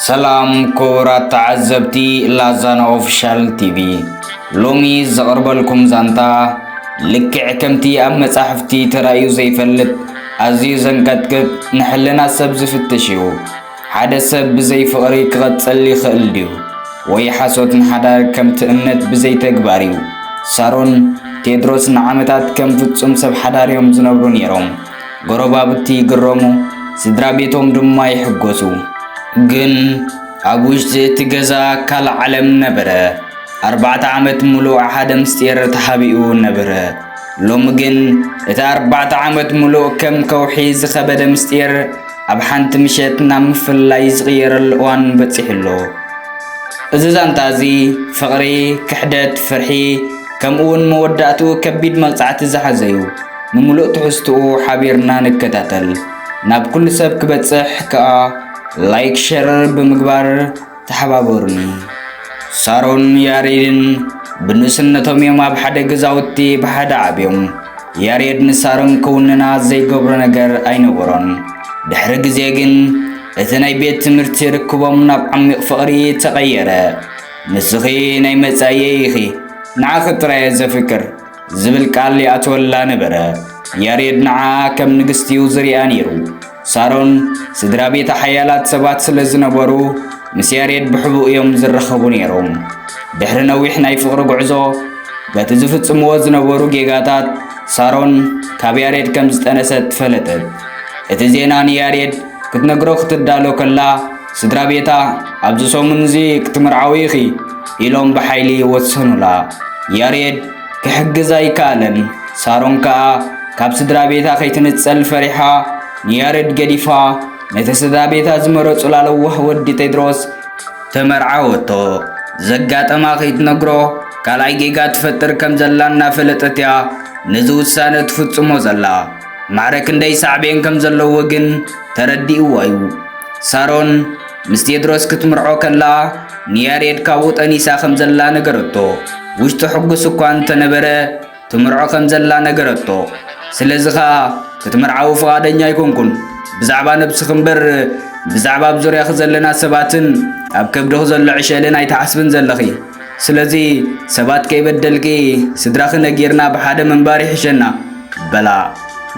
ሰላም ክቡራት ተዓዘብቲ ላዛና ኦፊሻል ቲቪ ሎሚ ዘቕርበልኩም ዛንታ ልክዕ ከምቲ ኣብ መጻሕፍቲ ተራእዩ ዘይፈልጥ ኣዝዩ ዘንቀጥቅጥ ንሕልና ሰብ ዝፍትሽ እዩ ሓደ ሰብ ብዘይ ፍቕሪ ክቐጽል ይኽእል ድዩ ወይ ሓሶት ንሓዳር ከምቲ እምነት ብዘይ ተግባር እዩ ሳሮን ቴድሮስ ንዓመታት ከም ፍጹም ሰብ ሓዳር እዮም ዝነብሩ ነይሮም ጎረባብቲ ይግረሙ፣ ስድራ ቤቶም ድማ ይሕጎሱ። ግን ኣብ ውሽጢ እቲ ገዛ ካልእ ዓለም ነበረ። ኣርባዕተ ዓመት ምሉእ ሓደ ምስጢር ተሓቢኡ ነበረ። ሎሚ ግን እቲ ኣርባዕተ ዓመት ምሉእ ከም ከውሒ ዝኸበደ ምስጢር ኣብ ሓንቲ ምሸት ናብ ምፍልላይ ዝቕየረሉ እዋን በፂሑ ኣሎ። እዚ ዛንታ እዚ ፍቕሪ፣ ክሕደት፣ ፍርሒ ከምኡውን መወዳእትኡ ከቢድ መቕጻዕቲ ዝሓዘ እዩ። ንምሉእ ትሕዝትኡ ሓቢርና ንከታተል ናብ ኩሉ ሰብ ክበጽሕ ከኣ ላይክ ሸር ብምግባር ተሓባበሩኒ። ሳሮን ያሬድን ብንእስነቶም እዮም ኣብ ሓደ ገዛውቲ ብሓደ ዓብዮም። ያሬድ ንሳሮን ክውንና ዘይገብሮ ነገር ኣይነበሮን። ድሕሪ ግዜ ግን እቲ ናይ ቤት ትምህርቲ ርክቦም ናብ ዓሚቕ ፍቕሪ ተቐየረ። ንስኺ ናይ መጻኢየይ ኢኺ፣ ንዓኺ ጥራየ ዘፍቅር ዝብል ቃል ይኣትወላ ነበረ። ያሬድ ንዓኣ ከም ንግስቲ እዩ ዝርያ ነይሩ። ሳሮን ስድራ ቤታ ሓያላት ሰባት ስለ ዝነበሩ ምስ ያሬድ ብሕቡእ እዮም ዝራኸቡ ነይሮም። ድሕሪ ነዊሕ ናይ ፍቕሪ ጉዕዞ በቲ ዝፍጽምዎ ዝነበሩ ጌጋታት ሳሮን ካብ ያሬድ ከም ዝጠነሰት ፈለጠት። እቲ ዜና ንያሬድ ክትነግሮ ክትዳሎ ከላ ስድራ ቤታ ኣብዚ ሰሙን እዚ ክትምርዓዊ ኢኺ ኢሎም ብሓይሊ ወሰኑላ። ያሬድ ክሕግዝ ኣይከኣለን። ሳሮን ከኣ ካብ ስድራ ቤታ ከይትንጸል ፈሪሓ ንያሬድ ገዲፋ ነቲ ስድራ ቤታ ዝመረጹላ ለዋህ ወዲ ቴድሮስ ተመርዓወቶ። ዘጋጠማ ከይትነግሮ ካልኣይ ጌጋ ትፈጥር ከም ዘላ እናፈለጠት እያ ነዚ ውሳነ ትፍጽሞ ዘላ። ማዕረ ክንደይ ሳዕቤን ከም ዘለዎ ግን ተረዲእዎ እዩ። ሳሮን ምስ ቴድሮስ ክትምርዖ ከላ ንያሬድ ካብኡ ጠኒሳ ከም ዘላ ነገረቶ። ውሽጡ ሕጉስ እኳ እንተነበረ ትምርዖ ከም ዘላ ነገረቶ። ስለዚ ኸኣ ክትምርዓዊ ፍቓደኛ ኣይኮንኩን። ብዛዕባ ነብስኺ እምበር ብዛዕባ ኣብ ዙርያኺ ዘለና ሰባትን ኣብ ከብድኺ ዘሎ ዕሸልን ኣይትሓስብን ዘለኺ። ስለዚ ሰባት ከይበደልኪ ስድራኺ ነጊርና ብሓደ ምንባር ይሕሸና በላ።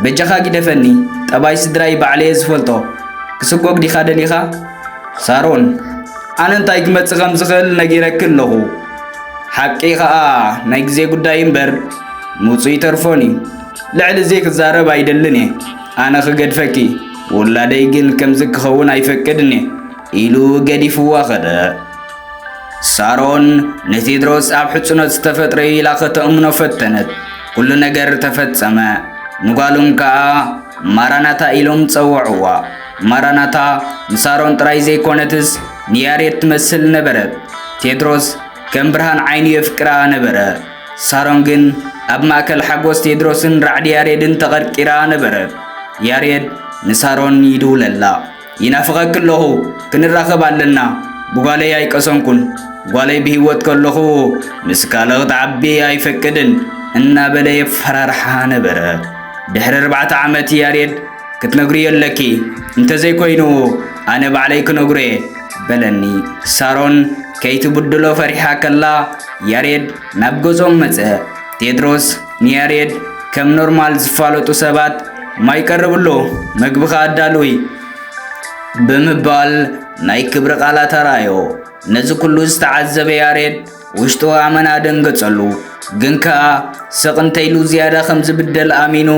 በጃኻ ጊደፈኒ፣ ጠባይ ስድራይ ባዕለየ ዝፈልጦ። ክስጎግ ዲኻ ደሊኻ? ሳሮን፣ ኣነ እንታይ ክመጽእ ከም ዝኽእል ነጊረኪ ኣለኹ። ሓቂ ኸኣ ናይ ግዜ ጉዳይ እምበር ምውጽኡ ይተርፎን እዩ። ልዕሊ እዚ ክዛረብ ኣይደልን እየ። ኣነ ክገድፈኪ፣ ውላደይ ግን ከምዚ ክኸውን ኣይፈቅድን እየ ኢሉ ገዲፍዋ ኸደ። ሳሮን ንቴድሮስ ኣብ ሕጽኖት ዝተፈጥረ ኢላ ከተእምኖ ፈተነት። ኩሉ ነገር ተፈጸመ። ንጓሎም ከኣ ማራናታ ኢሎም ጸወዕዋ። ማራናታ ንሳሮን ጥራይ ዘይኮነትስ ንያሬድ ትመስል ነበረት። ቴድሮስ ከም ብርሃን ዓይኑ የፍቅራ ነበረ። ሳሮን ግን ኣብ ማእከል ሓጎስ ቴድሮስን ራዕዲ ያሬድን ተቐርቂራ ነበረት። ያሬድ ንሳሮን ይድውለላ። ይናፍቐኪ ኣለኹ ክንራኸብ ኣለና ብጓለይ ኣይቀሰንኩን ጓለይ ብህይወት ከለኹ ምስ ካልእ ክትዓቢ ኣይፈቅድን እናበለ የፈራርሓ ነበረ ድሕሪ ኣርባዕተ ዓመት ያሬድ ክትነግርዮ ኣለኪ እንተዘይኮይኑ ኣነ ባዕለይ ክነግሮ እየ በለኒ ሳሮን ከይትብድሎ ፈሪሓ ከላ ያሬድ ናብ ገጾም መጸ ቴድሮስ ንያሬድ ከም ኖርማል ዝፋለጡ ሰባት ማይ ቀርብሎ መግብኻ ኣዳልዊ ብምባል ናይ ክብሪ ቃላት ኣርኣዮ። ነዚ ኩሉ ዝተዓዘበ ያሬድ ውሽጡ ኣመና ደንገጸሉ። ግን ከኣ ስቕ እንተይሉ ዝያዳ ከም ዝብደል ኣሚኑ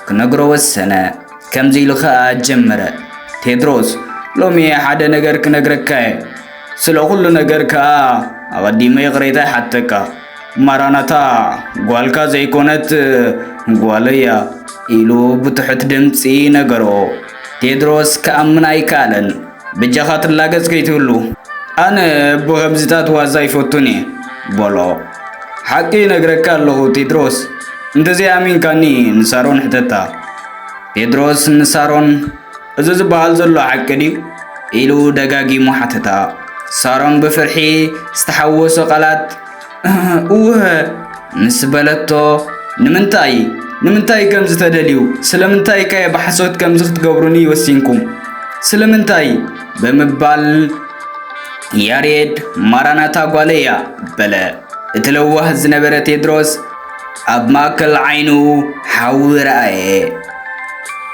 ክነግሮ ወሰነ። ከምዚ ኢሉ ከኣ ጀመረ። ቴድሮስ ሎሚ ሓደ ነገር ክነግረካ እየ። ስለ ኩሉ ነገር ከኣ ኣቐዲመ ይቕሬታ ይሓተካ። ማራናታ ጓልካ ዘይኮነት ጓለያ ኢሉ ብትሑት ድምፂ ነገሮ። ቴድሮስ ክኣምን ኣይከኣለን። ብጃኻ ትላገጽ ከይትህሉ ኣነ ብኸምዚታት ዋዛ ይፈቱን እየ በሎ። ሓቂ ነግረካ ኣለኹ ቴድሮስ፣ እንተዘይኣሚንካኒ ንሳሮን ሕተታ። ቴድሮስ ንሳሮን እዚ ዝበሃል ዘሎ ሓቂ ድዩ? ኢሉ ደጋጊሙ ሓተታ። ሳሮን ብፍርሒ ዝተሓወሶ ቃላት እወ ምስ በለቶ ንምንታይ ንምንታይ ከም ዝተደልዩ ስለምንታይ ከ ብሓሶት ከምዚ ክትገብሩኒ ወሲንኩም ስለምንታይ ብምባል ያሬድ ማራናታ ጓለያ በለ። እቲ ለዋህ ዝነበረ ቴድሮስ ኣብ ማእከል ዓይኑ ሓዊ ረኣየ።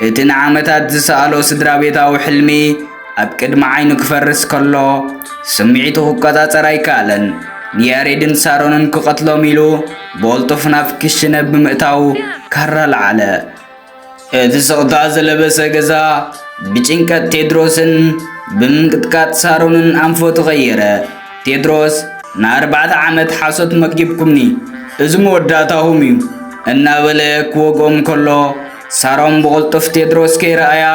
እቲ ንዓመታት ዝሰኣሎ ስድራ ቤታዊ ሕልሚ ኣብ ቅድሚ ዓይኑ ክፈርስ ከሎ ስምዒቱ ክቆጻጸር ኣይከኣለን። ንያሬድን ሳሮንን ክቐትሎም ኢሉ ብቕልጡፍ ናብ ክሽነ ብምእታው ካራ ለዓለ። እቲ ስቕታ ዝለበሰ ገዛ ብጭንቀት ቴድሮስን ብምንቅጥቃጥ ሳሮንን ኣንፎ ተቐየረ። ቴድሮስ ንኣርባዕተ ዓመት ሓሶት መጊብኩምኒ፣ እዚ መወዳእታኹም እዩ እናበለ ክወግኦም ከሎ ሳሮን ብቕልጡፍ ቴድሮስ ከይረኣያ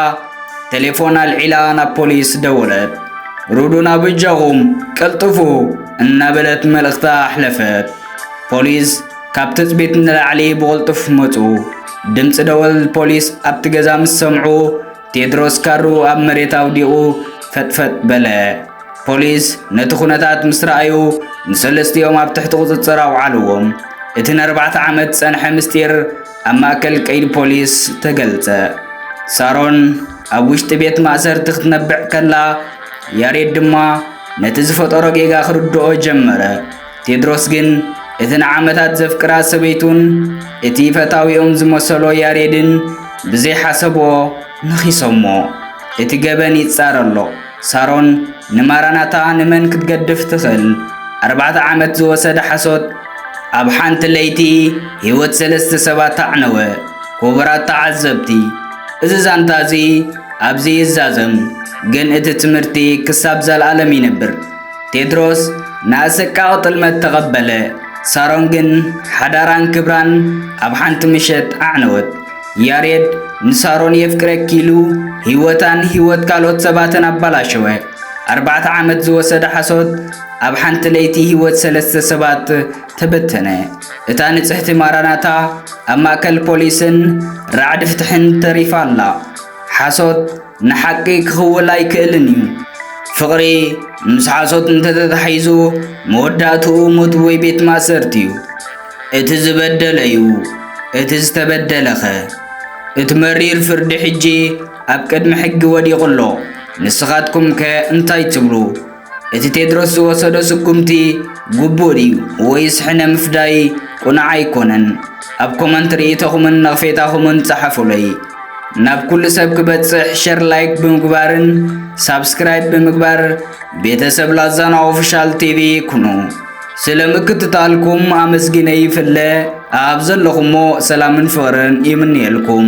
ቴሌፎን ኣልዒላ ናብ ፖሊስ ደወለት። ሩዱን ኣብ እጃኹም ቀልጥፉ እናበለት መልእኽታ ኣሕለፈት። ፖሊስ ካብ ትጽቢት ንላዕሊ ብቕልጡፍ መጹ። ድምፂ ደወል ፖሊስ ኣብቲ ገዛ ምስ ሰምዑ ቴድሮስ ካሩ ኣብ መሬት ኣውዲቑ ፈጥፈጥ በለ። ፖሊስ ነቲ ኩነታት ምስ ረኣዩ ንሰለስቲኦም ኣብ ትሕቲ ቁፅፅር ኣውዓልዎም። እቲ ንኣርባዕተ ዓመት ዝፀንሐ ምስጢር ኣብ ማእከል ቀይዲ ፖሊስ ተገልጸ። ሳሮን ኣብ ውሽጢ ቤት ማእሰርቲ ክትነብዕ ከላ ያሬድ ድማ ነቲ ዝፈጠሮ ጌጋ ክርድኦ ጀመረ። ቴድሮስ ግን እቲ ንዓመታት ዘፍቅራ ሰበይቱን እቲ ፈታዊኦም ዝመሰሎ ያሬድን ብዘይሓሰብዎ ነኺሶሞ። እቲ ገበን ይጻረ ኣሎ። ሳሮን ንማራናታ ንመን ክትገድፍ ትኽእል? ኣርባዕተ ዓመት ዝወሰደ ሓሶት ኣብ ሓንቲ ለይቲ ህይወት ሰለስተ ሰባት ኣዕነወ። ክቡራት ተዓዘብቲ እዚ ዛንታ እዚ ኣብዚ ይዛዘም፣ ግን እቲ ትምህርቲ ክሳብ ዘልኣለም ይነብር። ቴድሮስ ንኣሰቃቂ ጥልመት ተቐበለ። ሳሮን ግን ሓዳራን ክብራን ኣብ ሓንቲ ምሸት ኣዕነወት። ያሬድ ንሳሮን የፍቅረኪ ኢሉ ህይወታን ህይወት ካልኦት ሰባትን ኣባላሸወ። ኣርባዕተ ዓመት ዝወሰደ ሓሶት ኣብ ሓንቲ ለይቲ ህይወት ሰለስተ ሰባት ተበተነ። እታ ንጽሕቲ ማራናታ ኣብ ማእከል ፖሊስን ራዕዲ ፍትሕን ተሪፋ ኣላ። ሓሶት ንሓቂ ክኽውል ኣይክእልን እዩ። ፍቕሪ ምስ ሓሶት እንተተታሒዙ መወዳእትኡ ሞት ወይ ቤት ማእሰርቲ እዩ። እቲ ዝበደለ እዩ እቲ ዝተበደለኸ? እቲ መሪር ፍርዲ ሕጂ ኣብ ቅድሚ ሕጊ ወዲቑ ኣሎ። ንስኻትኩምከ እንታይ ትብሉ? እቲ ቴድሮስ ዝወሰዶ ስጉምቲ ግቡእ ድዩ ወይስ ሕነ ምፍዳይ ቁኑዕ ኣይኮነን? ኣብ ኮመንት ርእይቶኹምን ነቕፌታኹምን ጸሓፉለይ። ናብ ኩሉ ሰብ ክበጽሕ ሸር ላይክ ብምግባርን ሳብስክራይብ ብምግባር ቤተሰብ ላዛና ኦፊሻል ቲቪ ኩኑ። ስለ ምክትታልኩም ኣመስጊነ ይፍለ ኣብ ዘለኹሞ ሰላምን ፍቕርን ይምንየልኩም።